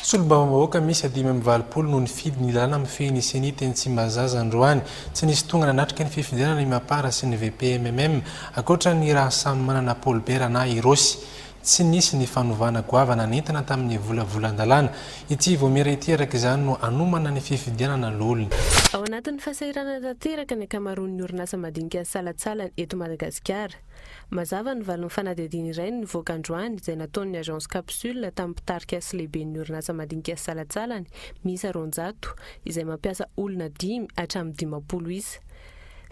Solombavambahoaka miisa dimy amby valopolo no nifidy ny lalàna mifehy ny Ceni teny Tsimbazaza androany. Tsy nisy tonga nanatrika ny fifidianana i Mapar sy ny VPMMM, ankoatra an'i Rahasamimanana Paulbert na i Rossy. Tsy nisy ny fanovana goavana nentina tamin'ny volavolan-dalàna. Ity vaomiera ity araka izany no hanomana ny fifidianana loholona. Ao anatin'ny fahasahiranana tanteraka ny ankamaroan'ny orinasa madinika salatsalany eto Madagasikara. Mazava ny valin'ny fanadihadiana iray nivoaka androany izay nataon'ny Agence Capsule tamin'ny mpitarika sy lehiben'ny orinasa madinika salatsalany miisa roanjato izay mampiasa olona dimy hatramin'ny dimampolo isa.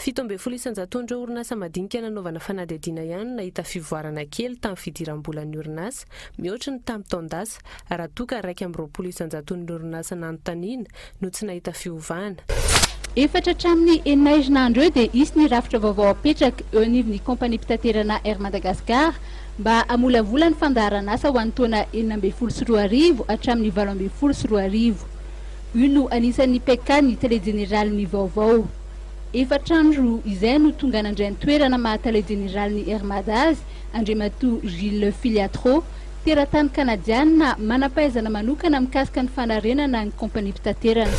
Fito ambin'ny folo isan-jaton'ireo orinasa madinika nanaovana fanadihadiana ihany no nahita fivoarana kely tamin'ny fidiram-bolan'ny orinasa, mihoatra ny tamin'ny taon-dasa, raha toa ka iraika amby roapolo isan-jaton'ny orinasa nanontaniana no tsy nahita fiovana. Efatra hatramin'ny enina herinandro eo dia hisy ny rafitra vaovao hapetraka eo anivon'ny Kaompaniam-pitaterana Air Madagascar mba hamolavola ny fandaharan'asa ho an'ny taona enina ambin'ny folo sy roa arivo hatramin'ny valo ambin'ny folo sy roa arivo. Io no anisan'ny PK ny Tale Jeneralin'ny vaovao. Efatra andro izay no tonga nandray ny toerana maha Tale Jeneralin'ny Air Mada azy Andriamatoa Gilles Filiatro, teratany Kanadiana manam-pahaizana manokana mikasika ny fanarenana ny Kompaniam-pitaterana.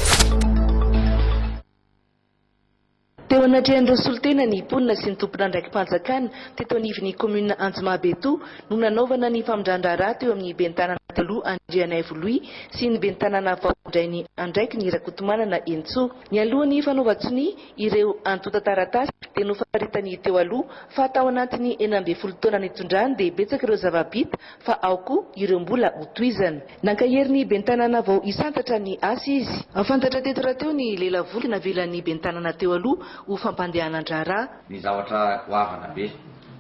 Teo anatrehan'ireo solontena ny mponina sy ny tompon'andraiki-panjakana teto anivon'ny kaominina Anjomabetoa no nanaovana ny famindran-draharaha teo amin'ny ben'ny tanàna taloha Andrianaivo Louis sy ny ben'ny tanàna vao handray ny andraikiny Rakotomanana Hentsoa. Nialohan'ny fanaovan-tsonia ireo antontan-taratasy dia nofaritany teo aloha fa tao anatin'ny enina ambin'ny folo taona nitondrany dia betsaka ireo zava-bita fa ao koa ireo mbola ho tohizana. Nankaherin'ny ben'ny tanàna vao isantatra ny asa izy. Fantatra teto rahateo ny lelavoly navelan'ny ben'ny tanàna teo aloha ho fampandehanan-draharaha. Ny zavatra goavana be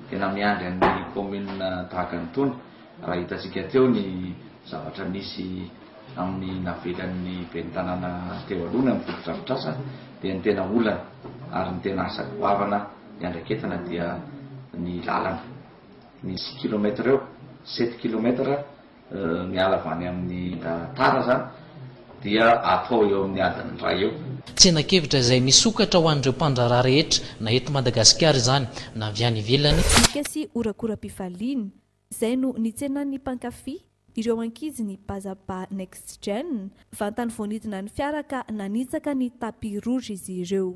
tena miandry an'ny kaominina tahaka ny tony raha hitantsika teo ny zavatra nisy amin'ny navelan'ny ben'ny tanàna teo aloha ny amin'ny fotodrafitrasa dia ny tena olana ary ny tena asa goavana iandraiketana dia ny lalana. Misy kilomètre eo, sept kilomètre miala avy any amin'ny Tara zany dia atao eo amin'ny adiny iray eo. Tsenan-kevitra izay misokatra ho an'ireo mpandraharaha rehetra na eto Madagasikara izany na avy any ivelany. Bika sy horakoram-pifaliana. Izay no nitsenan'ny mpankafy ireo ankizy ny Bazaba Next Gen, vantany vao nidina ny fiara ka nanitsaka ny tapis rouge izy ireo.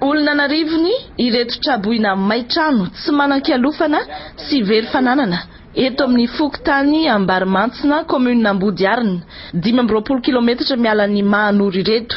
Olona an'arivony ireto tra-boina may trano tsy manan-kialofana sy very fananana eto amin'ny fokontany Ambarimantsina, kaominina Ambodiharina, dimy amby roapolo kilaometatra miala an'i Mahanoro ireto.